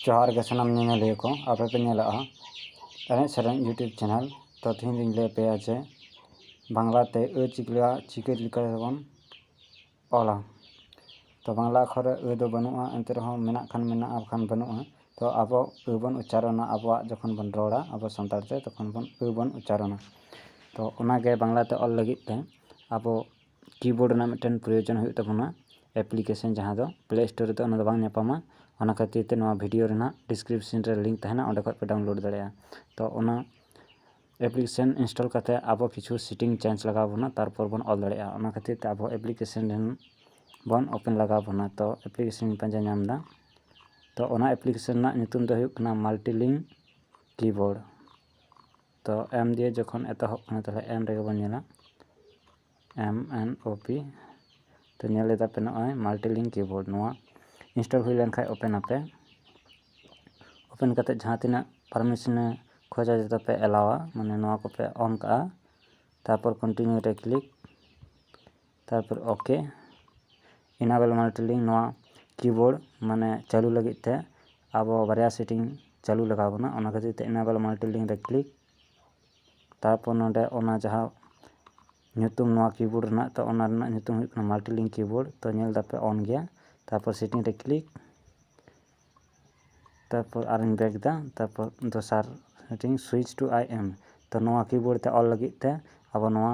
ᱡᱚᱦᱟᱨ ᱜᱮ ᱥᱟᱱᱟᱢ ᱧᱮᱧᱮᱞᱤᱭᱟᱹ ᱠᱚ ᱟᱯᱮ ᱯᱮ ᱧᱮᱞᱮᱫᱼᱟ ᱮᱱᱮᱡ ᱥᱮᱨᱮᱧ ᱤᱭᱩᱴᱩᱵᱽ ᱪᱮᱱᱮᱞ ᱛᱚ ᱛᱮᱦᱮᱧ ᱫᱚᱧ ᱞᱟᱹᱭ ᱟᱯᱮᱭᱟ ᱡᱮ ᱵᱟᱝᱞᱟ ᱛᱮ ᱟᱹ ᱪᱤᱠᱟᱹ ᱞᱮᱠᱟ ᱪᱤᱠᱟᱹ ᱞᱮᱠᱟ ᱛᱮᱵᱚᱱ ᱚᱞᱟ ᱛᱚ ᱵᱟᱝᱞᱟ ᱟᱠᱷᱚᱨ ᱨᱮ ᱟᱹ ᱫᱚ ᱵᱟᱹᱱᱩᱜᱼᱟ ᱮᱱᱛᱮ ᱨᱮᱦᱚᱸ ᱢᱮᱱᱟᱜ ᱠᱷᱟᱱ ᱢᱮᱱᱟᱜᱼᱟ ᱵᱟᱠᱷᱟᱱ ᱵᱟᱹᱱᱩᱜᱼᱟ ᱛᱚ ᱟᱵᱚ ᱟᱹ ᱵᱚᱱ ᱩᱪᱪᱟᱨᱚᱱᱟ ᱟᱵᱚᱣᱟᱜ ᱡᱚᱠᱷᱚᱱ ᱵᱚᱱ ᱨᱚᱲᱟ ᱟᱵᱚ ᱥᱟᱱᱛᱟᱲ ᱛᱮ ᱛᱚᱠᱷᱚᱱ ᱵᱚᱱ ᱟᱹ ᱵᱚᱱ ᱩᱪᱪᱟᱨᱚᱱᱟ ᱛᱚ ᱚᱱᱟᱜᱮ ᱵᱟᱝᱞᱟ ᱛᱮ ᱚᱞ ᱞᱟᱹᱜᱤᱫ ᱛᱮ ᱟᱵᱚ ᱠᱤᱵᱳᱨᱰ ᱨᱮᱱᱟᱜ ᱢᱤᱫᱴᱮᱱ ᱯᱨᱚᱭᱳᱡᱚᱱ ᱦᱩᱭᱩᱜ ᱛᱟᱵᱚᱱᱟ ᱮᱯᱞᱤᱠᱮᱥᱚᱱ ᱡᱟᱦᱟᱸ ᱫᱚ ᱯᱞᱮ ᱥᱴᱳᱨ ᱨᱮᱫᱚ ᱚᱱᱟ ᱫᱚ ᱵᱟᱝ ᱧᱟᱯᱟᱢᱟ ᱚᱱᱟ ᱠᱷᱟᱹᱛᱤᱨ ᱛᱮ ᱱᱚᱣᱟ ᱵᱷᱤᱰᱤᱭᱳ ᱨᱮᱱᱟᱜ ᱰᱤᱥᱠᱨᱤᱯᱥᱮᱱ ᱨᱮ ᱞᱤᱝᱠ ᱛᱟᱦᱮᱱᱟ ᱚᱸᱰᱮ ᱠᱷᱚᱱ ᱯᱮ ᱰᱟᱣᱩᱱᱞᱳᱰ ᱫᱟᱲᱮᱭᱟᱜᱼᱟ ᱛᱚ ᱚᱱᱟ ᱮᱯᱞᱤᱠᱮᱥᱚᱱ ᱤᱱᱥᱴᱚᱞ ᱠᱟᱛᱮᱫ ᱟᱵᱚ ᱠᱤᱪᱷᱩ ᱥᱮᱴᱤᱝ ᱪᱮᱧᱡᱽ ᱞᱟᱜᱟᱣ ᱵᱚᱱᱟ ᱛᱟᱨᱯᱚᱨ ᱵᱚᱱ ᱚᱞ ᱫᱟᱲᱮᱭᱟᱜᱼᱟ ᱚᱱᱟ ᱠᱷᱟᱹᱛᱤᱨ ᱛᱮ ᱟᱵᱚ ᱮᱯᱞᱤᱠᱮᱥᱚᱱ ᱨᱮᱱ ᱵᱚᱱ ᱳᱯᱮᱱ ᱞᱟᱜᱟᱣ ᱵᱚᱱᱟ ᱛᱚ ᱮᱯᱞᱤᱠᱮᱥᱚᱱ ᱤᱧ ᱯᱟᱸᱡᱟ ᱧᱟᱢ ᱮᱫᱟ ᱛᱚ ᱚᱱᱟ ᱮᱯᱞᱤᱠᱮᱥᱚᱱ ᱨᱮᱱᱟᱜ ᱧᱩᱛᱩᱢ ᱫᱚ ᱦᱩᱭᱩᱜ ᱠᱟᱱᱟ ᱢᱟᱞᱴᱤᱞᱤᱝᱠ ᱠᱤᱵᱳᱨᱰ ᱛᱚ ᱮᱢ ᱫᱤᱭᱮ ᱡᱚᱠᱷᱚᱱ ᱮᱛᱚᱦᱚᱵ ᱠᱟᱱᱟ ᱛᱟᱦᱚᱞᱮ ᱮᱢ ᱨᱮᱜᱮ ᱵᱚᱱ ᱧᱮᱞᱟ ᱮᱢ ᱮᱱ ᱳ ᱯᱤ ᱛᱚ ᱧᱮᱞ ᱮᱫᱟ ᱯᱮ ᱱᱚᱜᱼᱚᱭ ᱢᱟᱞᱴᱤᱞᱤᱝ ᱠᱤᱵᱳᱨᱰ ᱱᱚᱣᱟ ᱤᱱᱥᱴᱚᱞ ᱦᱩᱭ ᱞᱮᱱᱠᱷᱟᱱ ᱳᱯᱮᱱ ᱟᱯᱮ ᱳᱯᱮᱱ ᱠᱟᱛᱮ ᱡᱟᱦᱟᱸ ᱛᱤᱱᱟᱹᱜ ᱯᱟᱨᱢᱤᱥᱚᱱᱮ ᱠᱷᱚᱡᱟ ᱡᱚᱛᱚ ᱯᱮ ᱮᱞᱟᱣᱟ ᱢᱟᱱᱮ ᱱᱚᱣᱟ ᱠᱚᱯᱮ ᱚᱱ ᱠᱟᱜᱼᱟ ᱛᱟᱨᱯᱚᱨ ᱠᱚᱱᱴᱤᱱᱤᱭᱩ ᱨᱮ ᱠᱞᱤᱠ ᱛᱟᱨᱯᱚᱨ ᱳᱠᱮ ᱤᱱᱟᱵᱮᱞ ᱢᱚᱱᱤᱴᱚᱨᱤᱝ ᱱᱚᱣᱟ ᱠᱤᱵᱳᱨᱰ ᱢᱟᱱᱮ ᱪᱟᱹᱞᱩ ᱞᱟᱹᱜᱤᱫ ᱛᱮ ᱟᱵᱚ ᱵᱟᱨᱭᱟ ᱥᱮᱴᱤᱝ ᱪᱟᱹᱞᱩ ᱞᱟᱜᱟᱣ ᱵᱚᱱᱟ ᱚᱱᱟ ᱠᱷᱟᱹᱛᱤᱨ ᱛᱮ ᱤᱱᱟᱵᱮᱞ ᱢᱚᱱᱤᱴᱚᱨᱤᱝ ᱨᱮ ᱠᱞᱤᱠ ᱛᱟᱨᱯᱚᱨ ᱱᱚᱰᱮ ᱚᱱᱟ ᱡᱟᱦᱟᱸ ᱧᱩᱛᱩᱢ ᱱᱚᱣᱟ ᱠᱤᱵᱳᱨᱰ ᱨᱮᱱᱟᱜ ᱛᱚ ᱚᱱᱟ ᱨᱮᱱᱟᱜ ᱧᱩᱛᱩᱢ ᱦᱩᱭᱩᱜ ᱠᱟᱱᱟ ᱢᱟᱞᱴᱤᱞᱤᱝ ᱠᱤᱵᱳᱨᱰ ᱛᱚ ᱧᱮᱞ ᱫᱟᱯᱮ ᱚᱱ ᱜᱮᱭᱟ ᱛᱟᱨᱯᱚᱨ ᱥᱮᱴᱤᱝ ᱨᱮ ᱠᱞᱤᱠ ᱛᱟᱨᱯᱚᱨ ᱟᱨᱤᱧ ᱵᱮᱠ ᱮᱫᱟ ᱛᱟᱨᱯᱚᱨ ᱫᱚᱥᱟᱨ meeting switch to I M ᱛᱚ ᱱᱚᱣᱟ ᱠᱤᱵᱳᱨᱰ ᱛᱮ ᱚᱞ ᱞᱟᱹᱜᱤᱫ ᱛᱮ ᱟᱵᱚ ᱱᱚᱣᱟ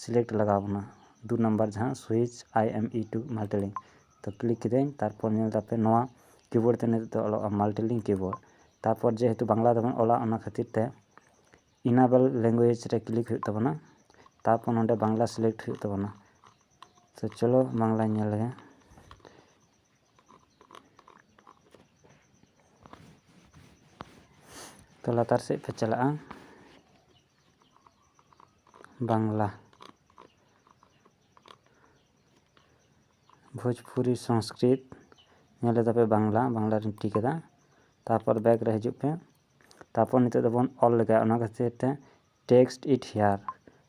ᱥᱤᱞᱮᱠᱴ ᱞᱟᱜᱟᱣ ᱵᱚᱱᱟ ᱫᱩ ᱱᱟᱢᱵᱟᱨ ᱡᱟᱦᱟᱸ switch I M E to multi link ᱛᱚ ᱠᱞᱤᱠ ᱠᱤᱫᱟᱹᱧ ᱛᱟᱨᱯᱚᱨ ᱧᱮᱞ ᱮᱫᱟᱯᱮ ᱱᱚᱣᱟ ᱠᱤᱵᱳᱨᱰ ᱛᱮ ᱱᱤᱛᱚᱜ ᱫᱚ ᱚᱞᱚᱜᱼᱟ ᱢᱟᱞᱴᱤ ᱞᱤᱝᱠ ᱠᱤᱵᱳᱨᱰ ᱛᱟᱨᱯᱚᱨ ᱡᱮᱦᱮᱛᱩ ᱵᱟᱝᱞᱟ ᱛᱮᱵᱚᱱ ᱚᱞᱟ ᱚᱱᱟ ᱠᱷᱟᱹᱛᱤᱨ ᱛᱮ ᱤᱱᱟᱵᱮᱞ ᱞᱮᱝᱜᱩᱭᱮᱡᱽ ᱨᱮ ᱠᱞᱤᱠ ᱦᱩᱭᱩᱜ ᱛᱟᱵᱚᱱᱟ ᱛᱟᱨᱯᱚᱨ ᱱᱚᱰᱮ ᱵᱟᱝᱞᱟ ᱥᱤᱞᱮᱠᱴ ᱦᱩᱭᱩᱜ ᱛᱟᱵᱚᱱᱟ ᱛᱚ ᱪᱚᱞᱚ ᱵᱟᱝᱞᱟᱧ ᱧᱮᱞ ᱞᱮᱜᱮ ᱛᱚ ᱞᱟᱛᱟᱨ ᱥᱮᱫ ᱯᱮ ᱪᱟᱞᱟᱜᱼᱟ ᱵᱟᱝᱞᱟ ᱵᱷᱳᱡᱽᱯᱩᱨᱤ ᱥᱚᱝᱥᱠᱨᱤᱛ ᱧᱮᱞ ᱮᱫᱟᱯᱮ ᱵᱟᱝᱞᱟ ᱵᱟᱝᱞᱟ ᱨᱮᱧ ᱴᱤᱠ ᱮᱫᱟ ᱛᱟᱨᱯᱚᱨ ᱵᱮᱠ ᱨᱮ ᱦᱤᱡᱩᱜ ᱯᱮ ᱛᱟᱨᱯᱚᱨ ᱱᱤᱛᱚᱜ ᱫᱚᱵᱚᱱ ᱚᱞ ᱞᱮᱜᱟᱭᱟ ᱚᱱᱟ ᱠᱷᱟᱹᱛᱤᱨ ᱛᱮ ᱴᱮᱠᱥᱴ ᱤᱴ ᱦᱮᱭᱟᱨ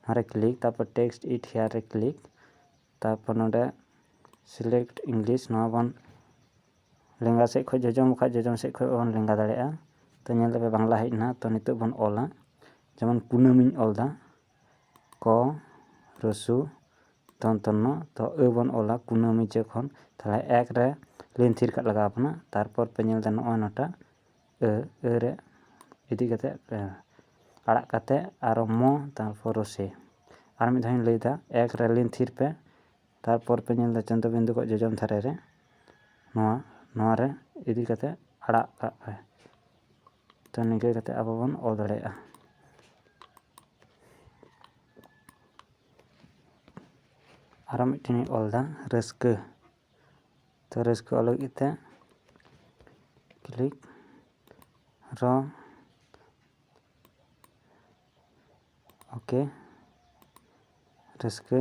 ᱱᱚᱣᱟᱨᱮ ᱠᱞᱤᱠ ᱛᱟᱨᱯᱚᱨ ᱴᱮᱠᱥᱴ ᱤᱴ ᱦᱮᱭᱟᱨ ᱨᱮ ᱠᱞᱤᱠ ᱛᱟᱨᱯᱚᱨ ᱱᱚᱰᱮ ᱥᱤᱞᱮᱠᱴ ᱤᱝᱞᱤᱥ ᱱᱚᱣᱟ ᱵᱚᱱ ᱞᱮᱸᱜᱟ ᱥᱮᱫ ᱠᱷᱚᱱ ᱡᱚᱡᱚᱢ ᱵᱟᱠᱷᱟᱱ ᱡᱚᱡᱚᱢ ᱥᱮᱫ ᱠᱷᱚᱱ ᱵᱚᱱ ᱞᱮᱸᱜᱟ ᱫᱟᱲᱮᱭᱟᱜᱼᱟ ᱛᱚ ᱧᱮᱞ ᱫᱟᱯᱮ ᱵᱟᱝᱞᱟ ᱦᱮᱡ ᱮᱱᱟ ᱛᱚ ᱱᱤᱛᱚᱜ ᱵᱚᱱ ᱚᱞᱟ ᱡᱮᱢᱚᱱ ᱠᱩᱱᱟᱹᱢᱤᱧ ᱚᱞ ᱮᱫᱟ ᱠᱚ ᱨᱟᱹᱥᱩ ᱫᱚᱱᱛᱚ ᱱᱚ ᱛᱚ ᱟᱹ ᱵᱚᱱ ᱚᱞᱟ ᱠᱩᱱᱟᱹᱢᱤ ᱡᱚᱠᱷᱚᱱ ᱛᱟᱦᱚᱞᱮ ᱮᱠ ᱨᱮ ᱞᱟᱹᱭᱤᱱ ᱛᱷᱤᱨ ᱠᱟᱜ ᱞᱟᱜᱟᱣ ᱵᱚᱱᱟ ᱛᱟᱨᱯᱚᱨ ᱯᱮ ᱧᱮᱞ ᱮᱫᱟ ᱱᱚᱜᱼᱚᱭ ᱱᱚᱣᱟᱴᱟᱜ ᱟᱹ ᱟᱹ ᱨᱮ ᱤᱫᱤ ᱠᱟᱛᱮᱫ ᱟᱲᱟᱜ ᱠᱟᱛᱮᱫ ᱟᱨᱚ ᱢᱚ ᱛᱟᱨᱯᱚᱨ ᱨᱚᱥᱮ ᱟᱨ ᱢᱤᱫ ᱫᱷᱟᱣ ᱤᱧ ᱞᱟᱹᱭᱮᱫᱟ ᱮᱠ ᱨᱮ ᱞᱤᱱ ᱛᱷᱤᱨ ᱯᱮ ᱛᱟᱨᱯᱚᱨ ᱯᱮ ᱧᱮᱞ ᱮᱫᱟ ᱪᱚᱱᱫᱨᱚ ᱵᱤᱱᱫᱩ ᱠᱷᱚᱱ ᱡᱚᱡᱚᱢ ᱫᱷᱟᱨᱮ ᱨᱮ ᱱᱚᱣᱟ ᱱᱚᱣᱟ ᱨᱮ ᱤᱫᱤ ᱠᱟᱛᱮᱫ ᱟᱲᱟᱜ ᱠᱟᱜ ᱯᱮ ᱛᱚ ᱱᱤᱝᱠᱟᱹ ᱠᱟᱛᱮᱫ ᱟᱵᱚ ᱵᱚᱱ ᱚᱞ ᱫᱟᱲᱮᱭᱟᱜᱼᱟ ᱟᱨᱚ ᱢᱤᱫᱴᱮᱱ ᱤᱧ ᱚᱞ ᱮᱫᱟ ᱨᱟᱹᱥᱠᱟᱹ ᱛᱚ ᱨᱟᱹᱥᱠᱟᱹᱜ ᱞᱟᱹᱜᱤᱫ ᱛᱮ ᱠᱞᱤᱠ ᱨᱚ ᱳᱠᱮ ᱨᱟᱹᱥᱠᱟᱹ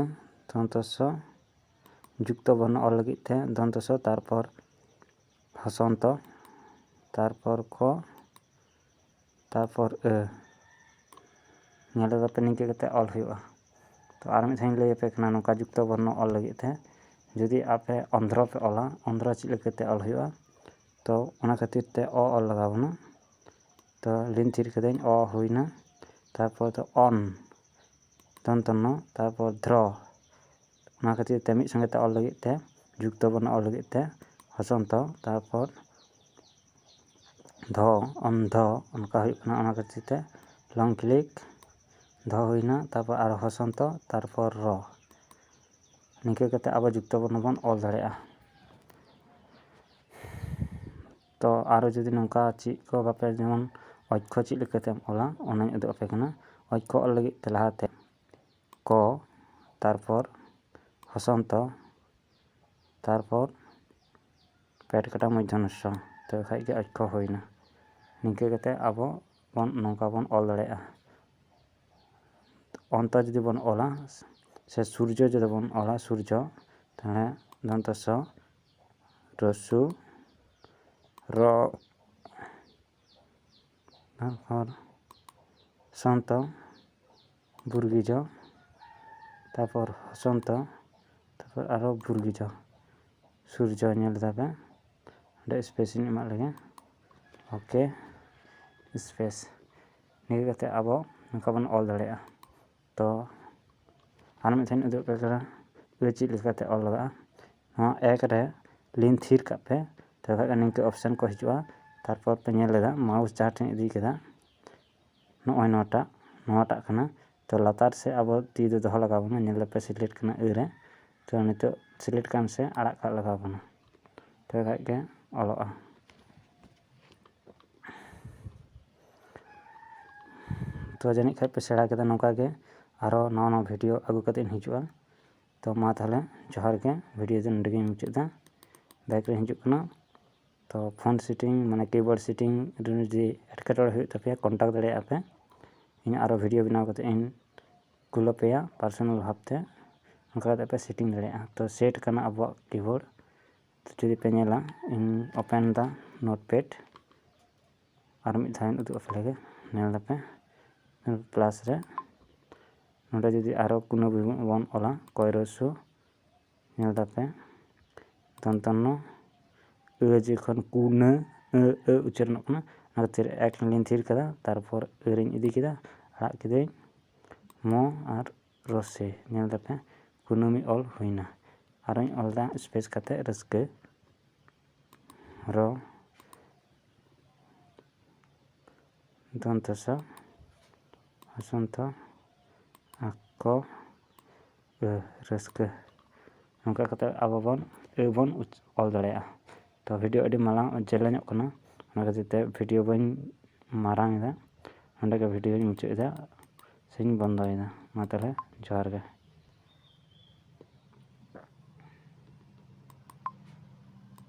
ᱫᱚᱱᱛᱚᱥᱚ ᱡᱩᱠᱛᱚ ᱵᱚᱨᱱᱚ ᱚᱞ ᱞᱟᱹᱜᱤᱫ ᱛᱮ ᱫᱚᱱᱛᱚᱥᱚ ᱛᱟᱨᱯᱚᱨ ᱦᱚᱥᱚᱱᱛᱚ ᱛᱟᱨᱯᱚᱨ ᱠᱚ ᱛᱟᱨᱯᱚᱨ ᱟᱹ ᱱᱚᱸᱰᱮ ᱫᱚ ᱟᱯᱮ ᱱᱤᱝᱠᱟᱹ ᱠᱟᱛᱮᱫ ᱚᱞ ᱦᱩᱭᱩᱜᱼᱟ ᱛᱚ ᱟᱨ ᱢᱤᱫ ᱫᱷᱟᱣᱤᱧ ᱞᱟᱹᱭᱟᱯᱮ ᱠᱟᱱᱟ ᱱᱚᱝᱠᱟ ᱡᱩᱠᱛᱚ ᱵᱚᱨᱱᱚ ᱚᱞ ᱞᱟᱹᱜᱤᱫ ᱛᱮ ᱡᱩᱫᱤ ᱟᱯᱮ ᱚᱱᱫᱷᱨᱚ ᱯᱮ ᱚᱞᱟ ᱚᱱᱫᱷᱨᱚ ᱪᱮᱫ ᱞᱮᱠᱟᱛᱮ ᱚᱞ ᱦᱩᱭᱩᱜᱼᱟ ᱛᱚ ᱚᱱᱟ ᱠᱷᱟᱹᱛᱤᱨ ᱛᱮ ᱚ ᱚᱞ ᱞᱟᱜᱟᱣ ᱵᱚᱱᱟ ᱛᱚ ᱞᱤᱱ ᱛᱷᱤᱨ ᱠᱟᱹᱫᱟᱹᱧ ᱚ ᱦᱩᱭᱱᱟ ᱛᱟᱨᱯᱚᱨ ᱫᱚ ᱚᱱ ᱫᱚᱱᱛᱚ ᱱᱚ ᱛᱟᱨᱯᱚᱨ ᱫᱷᱨᱚ ᱚᱱᱟ ᱠᱷᱟᱹᱛᱤᱨ ᱛᱮ ᱢᱤᱫ ᱥᱚᱸᱜᱮ ᱛᱮ ᱚᱞ ᱞᱟᱹᱜᱤᱫ ᱛᱮ ᱡᱩᱠᱛᱚ ᱵᱚᱨᱱᱚ ᱚᱞ ᱞᱟᱹᱜᱤᱫ ᱛᱮ ᱦᱚᱥᱚᱱᱛᱚ ᱛᱟᱨᱯᱚᱨ ᱫᱷᱚ ᱚᱱ ᱫᱷᱚ ᱚᱱᱠᱟ ᱦᱩᱭᱩᱜ ᱠᱟᱱᱟ ᱚᱱᱟ ᱠᱷᱟᱹᱛᱤᱨ ᱛᱮ ᱞᱚᱝ ᱠᱞᱤᱠ ᱫᱷᱚ ᱦᱩᱭᱱᱟ ᱛᱟᱨᱯᱚᱨ ᱟᱨᱚ ᱦᱚᱥᱚᱱᱛᱚ ᱛᱟᱨᱯᱚᱨ ᱨᱚ ᱱᱤᱝᱠᱟᱹ ᱠᱟᱛᱮᱫ ᱟᱵᱚ ᱡᱩᱠᱛᱚ ᱵᱚᱨᱱᱚ ᱵᱚᱱ ᱚᱞ ᱫᱟᱲᱮᱭᱟᱜᱼᱟ ᱛᱚ ᱟᱨᱚ ᱡᱩᱫᱤ ᱱᱚᱝᱠᱟ ᱪᱮᱫ ᱠᱚ ᱵᱟᱯᱮ ᱡᱮᱢᱚᱱ ᱚᱠᱠᱷᱚ ᱪᱮᱫ ᱞᱮᱠᱟᱛᱮᱢ ᱚᱞᱟ ᱚᱱᱟᱧ ᱩᱫᱩᱜ ᱟᱯᱮ ᱠᱟᱱᱟ ᱚᱠᱠᱷᱚ ᱚᱞ ᱞᱟᱹᱜᱤᱫ ᱛᱮ ᱞᱟᱦᱟᱛᱮ ᱠᱚ ᱛᱟᱨᱯᱚᱨ ᱦᱚᱥᱚᱱᱛᱚ ᱛᱟᱨᱯᱚᱨ ᱯᱮᱴ ᱠᱟᱴᱟ ᱢᱚᱫᱽᱫᱷᱚ ᱱᱚᱥᱥᱚ ᱛᱚᱵᱮ ᱠᱷᱟᱡ ᱜᱮ ᱚᱠᱠᱷᱚ ᱦᱩᱭᱱᱟ ᱱᱤᱝᱠᱟᱹ ᱠᱟᱛᱮ ᱟᱵᱚ ᱵᱚᱱ ᱱᱚᱝᱠᱟ ᱵᱚᱱ ᱚᱞ ᱫᱟᱲᱮᱭᱟᱜᱼᱟ ᱚᱱᱛᱚ ᱡᱩᱫᱤ ᱵᱚᱱ ᱚᱞᱟ ᱥᱮ ᱥᱩᱨᱡᱚ ᱡᱩᱫᱤ ᱵᱚᱱ ᱚᱞᱟ ᱥᱩᱨᱡᱚ ᱛᱟᱦᱚᱞᱮ ᱫᱚᱱᱛᱚ ᱥᱚ ᱨᱚᱥᱥᱚ ᱨᱚ ᱛᱟᱨᱯᱚᱨ ᱥᱟᱱᱛᱚ ᱵᱩᱨᱜᱤ ᱡᱚ ᱛᱟᱨᱯᱚᱨ ᱦᱚᱥᱚᱱᱛᱚ ᱛᱟᱨᱯᱚᱨ ᱟᱨᱚ ᱵᱩᱨᱜᱤ ᱡᱚ ᱥᱩᱨᱡᱚ ᱧᱮᱞ ᱫᱟᱵᱮᱱ ᱚᱸᱰᱮ ᱥᱯᱮᱥ ᱤᱧ ᱮᱢᱟᱜ ᱞᱮᱜᱮ ᱳᱠᱮ ᱥᱯᱮᱥ ᱱᱤᱭᱟᱹ ᱠᱟᱛᱮᱫ ᱟᱵᱚ ᱱᱚᱝᱠᱟ ᱵᱚᱱ ᱚᱞ ᱫᱟᱲᱮᱭᱟᱜᱼᱟ ᱛᱚ ᱟᱨ ᱢᱤᱫ ᱫᱷᱟᱣᱤᱧ ᱩᱫᱩᱜ ᱟᱯᱮ ᱠᱟᱱᱟ ᱡᱮ ᱪᱮᱫ ᱞᱮᱠᱟᱛᱮ ᱚᱞ ᱞᱟᱜᱟᱜᱼᱟ ᱱᱚᱣᱟ ᱮᱠ ᱨᱮ ᱞᱤᱱ ᱛᱷᱤᱨ ᱠᱟᱜ ᱯᱮ ᱛᱚᱵᱮ ᱠᱷᱟᱱ ᱫᱚ ᱱᱤᱝᱠᱟᱹ ᱚᱯᱷᱥᱮᱱ ᱠᱚ ᱦᱤᱡᱩᱜᱼᱟ ᱛᱟᱨᱯᱚᱨ ᱯᱮ ᱧᱮᱞ ᱮᱫᱟ ᱢᱟᱣᱩᱥ ᱡᱟᱦᱟᱸ ᱴᱷᱮᱱ ᱤᱫᱤ ᱠᱮᱫᱟ ᱱᱚᱜᱼᱚᱭ ᱱᱚᱣᱟᱴᱟᱜ ᱱᱚᱣᱟᱴᱟᱜ ᱠᱟᱱᱟ ᱛᱚ ᱞᱟᱛᱟᱨ ᱥᱮᱫ ᱟᱵᱚ ᱛᱤ ᱫᱚ ᱫᱚᱦᱚ ᱞᱟᱜᱟᱣ ᱵᱚᱱᱟ ᱧᱮᱞ ᱫᱟᱯᱮ ᱥᱤᱞᱮᱠᱴ ᱠᱟᱱᱟ ᱟᱹ ᱨᱮ ᱛᱚ ᱱᱤᱛᱚᱜ ᱥᱤᱞᱮᱠᱴ ᱠᱟᱱ ᱥᱮ ᱟᱲᱟᱜ ᱠᱟᱜ ᱞᱟᱜᱟᱣ ᱵᱚᱱᱟ ᱛᱚᱵᱮ ᱠᱷᱟᱱ ᱜᱮ ᱚᱞᱚᱜᱼᱟ ᱛᱚ ᱡᱟᱹᱱᱤᱡ ᱠᱷᱟᱱ ᱯᱮ ᱥᱮᱬᱟ ᱠᱮᱫᱟ ᱱᱚᱝᱠᱟ ᱜᱮ ᱟᱨᱚ ᱱᱟᱣᱟ ᱱᱟᱣᱟ ᱵᱷᱤᱰᱭᱳ ᱟᱹᱜᱩ ᱠᱟᱛᱮᱫ ᱤᱧ ᱦᱤᱡᱩᱜᱼᱟ ᱛᱚ ᱢᱟ ᱛᱟᱦᱚᱞᱮ ᱡᱚᱦᱟᱨ ᱜᱮ ᱵᱷᱤᱰᱭᱳ ᱫᱚ ᱱᱚᱰᱮ ᱜᱤᱧ ᱢᱩᱪᱟᱹᱫ ᱮᱫᱟ ᱵᱟᱭᱤᱠ ᱨᱤᱧ ᱦᱤᱡᱩᱜ ᱠᱟᱱᱟ ᱛᱚ ᱯᱷᱳᱱ ᱥᱮᱴᱤᱝ ᱢᱟᱱᱮ ᱠᱤᱵᱳᱨᱰ ᱥᱮᱴᱤᱝ ᱨᱮ ᱡᱩᱫᱤ ᱮᱴᱠᱮᱴᱚᱬᱮ ᱦᱩᱭᱩᱜ ᱛᱟᱯᱮᱭᱟ ᱠᱚᱱᱴᱟᱠᱴ ᱫᱟᱲᱮᱭᱟᱜᱼᱟ ᱯᱮ ᱤᱧ ᱟᱨᱚ ᱵᱷᱤᱰᱭᱳ ᱵᱮᱱᱟᱣ ᱠᱟᱛᱮᱫ ᱤᱧ ᱠᱩᱞ ᱟᱯᱮᱭᱟ ᱯᱟᱨᱥᱳᱱᱟᱞ ᱵᱷᱟᱵᱽᱛᱮ ᱚᱱᱠᱟ ᱠᱟᱛᱮᱫ ᱯᱮ ᱥᱮᱴᱤᱝ ᱫᱟᱲᱮᱭᱟᱜᱼᱟ ᱛᱚ ᱥᱮᱴ ᱠᱟᱱᱟ ᱟᱵᱚᱣᱟᱜ ᱠᱤᱵᱳᱨᱰ ᱡᱩᱫᱤ ᱯᱮ ᱧᱮᱞᱟ ᱤᱧ ᱳᱯᱮᱱ ᱫᱟ ᱱᱳᱴ ᱯᱮᱰ ᱟᱨ ᱢᱤᱫ ᱫᱷᱟᱣ ᱤᱧ ᱩᱫᱩᱜ ᱟᱯᱮ ᱞᱮᱜᱮ ᱧᱮᱞ ᱫᱟᱯᱮ ᱯᱞᱟᱥ ᱨᱮ ᱱᱚᱰᱮ ᱡᱩᱫᱤ ᱟᱨᱚ ᱠᱳᱱᱳ ᱵᱚᱱ ᱚᱞᱟ ᱠᱚᱭᱨᱚᱥᱩ ᱧᱮᱞ ᱫᱟᱯᱮ ᱫᱚᱱᱛᱚᱱᱱᱚ ᱟᱹ ᱡᱚᱠᱷᱚᱱ ᱠᱩᱱᱟᱹ ᱟᱹ ᱟᱹ ᱩᱪᱪᱟᱨᱚᱱᱚᱜ ᱠᱟᱱᱟ ᱚᱱᱟ ᱠᱷᱟᱹᱛᱤᱨ ᱮᱠ ᱞᱤᱧ ᱛᱷᱤᱨ ᱠᱟᱫᱟ ᱛᱟᱨᱯᱚᱨ ᱟᱹᱨᱤᱧ ᱤᱫᱤ ᱠᱮᱫᱟ ᱟᱲᱟᱜ ᱠᱤᱫᱟᱹᱧ ᱢᱚ ᱟᱨ ᱨᱚᱥᱮ ᱧᱮᱞ ᱠᱟᱛᱮ ᱠᱩᱱᱟᱹᱢᱤ ᱚᱞ ᱦᱩᱭᱱᱟ ᱟᱨᱚᱧ ᱚᱞᱫᱟ ᱥᱯᱮᱥ ᱠᱟᱛᱮ ᱨᱟᱹᱥᱠᱟᱹ ᱨᱚ ᱫᱚᱱᱛᱚ ᱥᱚ ᱵᱚᱥᱚᱱᱛᱚ ᱟᱠᱚ ᱨᱟᱹᱥᱠᱟᱹ ᱱᱚᱝᱠᱟ ᱠᱟᱛᱮ ᱟᱵᱚ ᱵᱚᱱ ᱟᱹ ᱵᱚᱱ ᱚᱞ ᱫᱟᱲᱮᱭᱟᱜᱼᱟ ᱛᱚ ᱵᱷᱤᱰᱤᱭᱳ ᱟᱹᱰᱤ ᱢᱟᱨᱟᱝ ᱡᱮᱞᱮᱧᱚᱜ ᱠᱟᱱᱟ ᱚᱱᱟ ᱠᱷᱟᱹᱛᱤᱨ ᱛᱮ ᱵᱷᱤᱰᱤᱭᱳ ᱵᱟᱹᱧ ᱢᱟᱨᱟᱝ ᱮᱫᱟ ᱱᱚᱰᱮ ᱜᱮ ᱵᱷᱤᱰᱤᱭᱳᱧ ᱢᱩᱪᱟᱹᱫ ᱮᱫᱟ ᱥᱮᱧ ᱵᱚᱱᱫᱚᱭᱮᱫᱟ ᱢᱟ ᱛᱟᱦᱚᱞᱮ ᱡᱚᱦᱟᱨ ᱜᱮ